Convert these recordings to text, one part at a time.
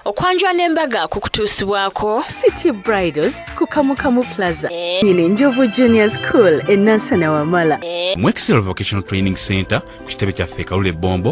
okwanjula n'embaga ku kutuusibwako city bridals ku kamukamu plaza eh. ino enjovu junior school enansana wamala eh. mu excel vocational training center ku kitebe kyaffe kalule bombo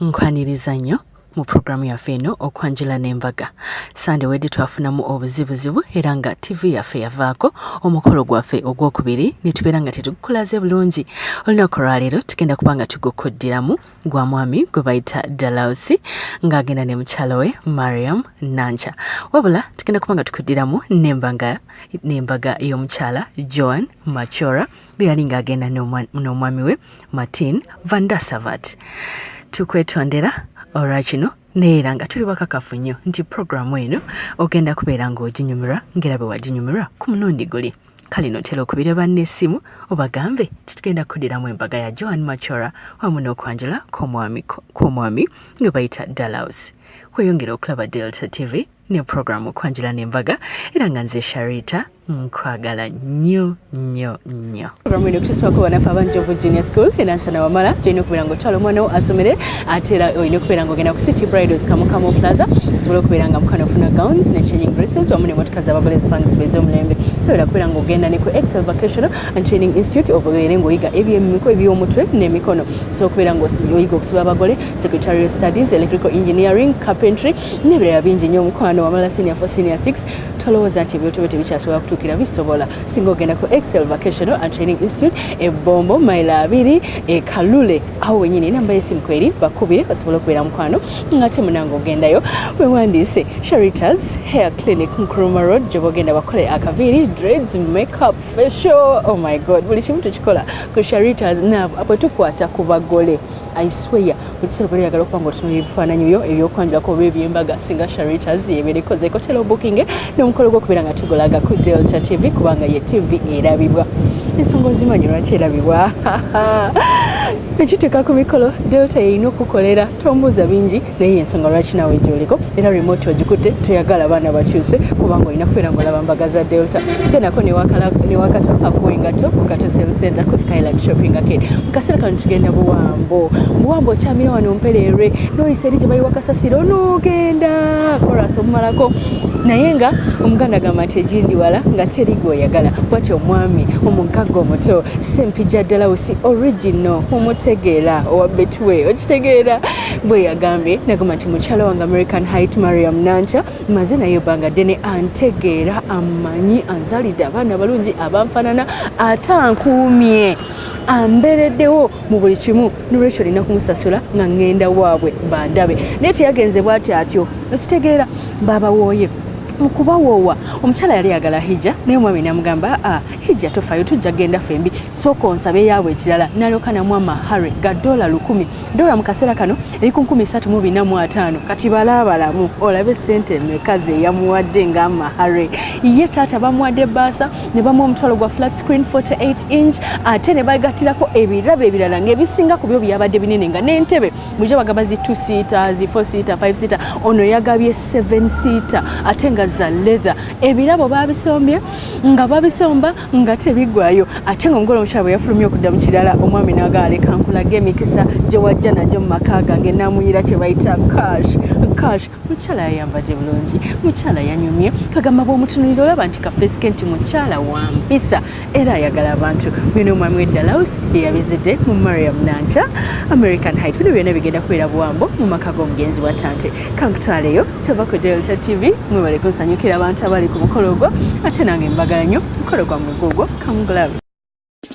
nkwaniriza nnyo mu pulogulaamu yaffe eno okwanjula n'embaga sande wedde twafunamu obuzibuzibu era nga ttivi yaffe yavaako omukolo gwaffe ogwokubiri ne tubeera nga tetugukulaze bulungi olunaku olwaleero tugenda kuba nga tugukuddiramu gwa mwami gwe bayita dalausi ng'agenda ne mukyalo we mariam nanca wabula tugenda kuba nga tukuddiramu n'embaga y'omukyala joan machora bwe yali ng'agenda n'omwami we martin van dassavat tukwetondera olwa kino naye era nga tuli bakakafu nnyo nti puroguramu eno ogenda kubeera ng'oginyumirwa ng'era bwe waginyumirwa ku mulundi guli kale notera okubira banne essimu obagambe titugenda kudiramu embaga ya joan machora wamu n'okwanjula kw'omwami nga bayita dalaus weyongera okulaba delta tv ne puroguramu okwanjula n'embaga era nga nze sharita nkwagala nnyo nnyo nnyo puroguramu eno okutusibako banafe abanjovu junior school enansana wamala gyolina okubeera nga otwala omwana wo asomere ate era olina okubeera nga ogenda ku city bridals kamukamo plaza osobola okubeera nga mukana ofuna gowns ne changing dresses wamu nemotoka zabagole zipangisibwa ez'omulembe sobola kubeera nga ogenda ne ku excel vocational and training institute obeere ngaoyiga ebyemiko eby'omutwe n'emikono osobola okubeera nga oyiga okusiba abagole secretarial studies electrical engineering carpentry nebirala bingi nyo omukwano wamala senior for senior 6 tolowooza nti ebyotobe tebikyasobola kutuukira bisobola singa ogenda ku excel vacational and training institute ebombo mailo abiri ekalule awo wenyini enamba yesimu kweri bakubire basobole okubeera mukwano ngate munange ogendayo wewandiise sharitas hair clinic nkruma road gyoba ogenda bakole akaviiri dreads makeup facial oh my god buli kimu tukikola ku sharitas nabo apo tukwata ku bagole I swear buli kiseera obeera oyagala okuba nga otunuulira ebifaananyi byo ebyokwanjulako oba ebyembaga singa sharitas yebeera ekoze kotera obukinge n'omukolo gwokubeera nga tugolaga ku delta tv kubanga ye tv erabibwa ensonga ozimanyi lwaki erabibwa ekituuka ku mikolo delta yeyina okukolera tombuuza bingi naye yensonga lwaki nawe gyoliko era remote ogikutte toyagala abaana bakyuse kubanga olina kubeera ngaolaba mbaga za delta genako newakato akuwa engato kukato sel center ku skyland shopping arcade mukaseera kano tugenda buwambo buwambo okyamira wano mpereerwe noyisa eri gyebali wakasasira onogenda koras omumalako naye nga omuganda agamba nti egindi wala nga teri gweoyagala bwati omwami omugagga omuto sempija dalausi original omutegeera owa betway okitegeera bwe yagambye nagamba nti mukyala wange american hait mariam nanca maze naye ebbanga ddene antegeera amanyi anzalidde abaana abalungi abanfanana ate ankuumye ambereddewo mu buli kimu nolwekyo olina kumusasula nga ŋŋenda waabwe bandabe naye teyagenze bwati atyo okitegeera baabawooye mukubawoowa omukyala yali yagala hijja naye omwami namugamba ah, hijja tofayo tujja genda fembi sooka onsabe yaabwe ekirala naloka namwa mahare gadola lukumi dola mu kaseera kano eri ku nkumi satu mu bina mu ataano kati balaabalamu olabe sente emeka ze yamuwadde nga mahare ye taata bamuwadde baasa ne bamu omutwalo gwa flat screen 48 inch ate ne bagatirako ebirabo ebirala ngaebisinga ku byo byabadde binene nga n'entebe muja bagaba zi two seater zi four seater five seater ono yagabye seven seater ate nga za leather ebirabo babisombye nga babisomba nga tebigwayo ate nga omugole omukyala bwe yafulumye okudda mu kirala omwami naga aleka nkulaga emikisa gye wajja nagyo mu maka gange namuyira kye bayita cash cash mukyala yayambadde bulungi mukyala yanyumye kagamba bwomutunulira olaba nti kafeesike nti mukyala wampisa era ayagala abantu bino omwami weddalaus yeyabizudde mu mariam nanca american high bino byona bigenda kubeera buwambo mu maka g'omugenzi wa tante kankutwaleyo kyava ku delta tv mwebale kunsanyukira abantu abali ku mukolo ogwo ate nange mbagala nnyo mukolo gwa mugwa ogwo kamugulabe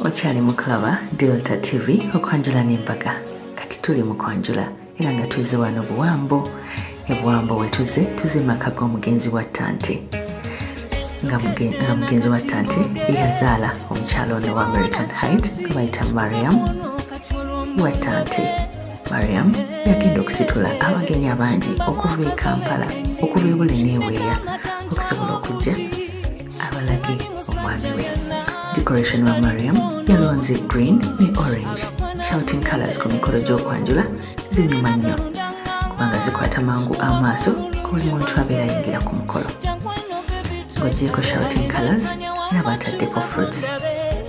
okyali mukulaba delta tv okwanjula n'embaga kati tuli mu kwanjula era nga tuzze wano buwambo ebuwambo wetuze tuze maka g'omugenzi wa tante nga mugenzi wa tante eyazaala omukyalo ono wa american height gwebayita mariam wa tante mariam yagenda okusitula abagenyi abangi okuva e kampala okuva ebule neeweeya okusobola okujja abalage omwami we decoration wa mariam yalonze green ne orange shouting colors ku mikolo gy'okwanjula zinyuma nnyo kubanga zikwata mangu amaaso ku buli muntu abeera yingira ku mukolo ng'ogyeko shouting colors n'abaataddeko fruits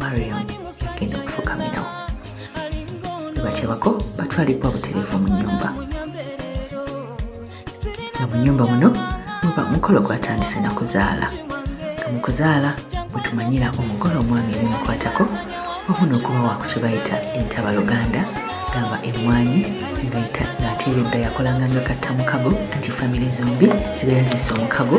mariam agenda okufukamirawo bakyabako batwalibwa butereevu mu nyumba nga mu nyumba muno muba mukolo gwatandise na kuzaala nga mu kuzaala wetumanyira omugole omwami ebimukwatako wamu n'okuba waku kye bayita entaba luganda gamba emmwanyi ng'ate ebidda yakolanga nga katta mukago anti famire zombi zibeera zisa omukago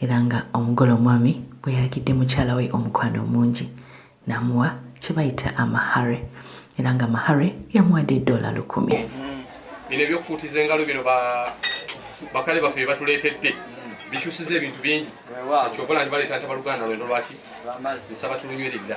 era nga omugole omwami bwe yalagidde mukyala we omukwano omungi n'amuwa kye bayita amahare era nga mahare yamuwadde eddoola lukumi bino ebyokufuutiza engalo bino bakale baffe bye batuleetedde bikyusiza ebintu bingi kyobola nti baleeta ntabaluganda lwendo lwaki nsaba tulunyweredda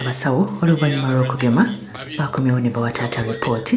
abasawo oluvannyuma lw'okugema bakomyewo ne bawa taata ripooti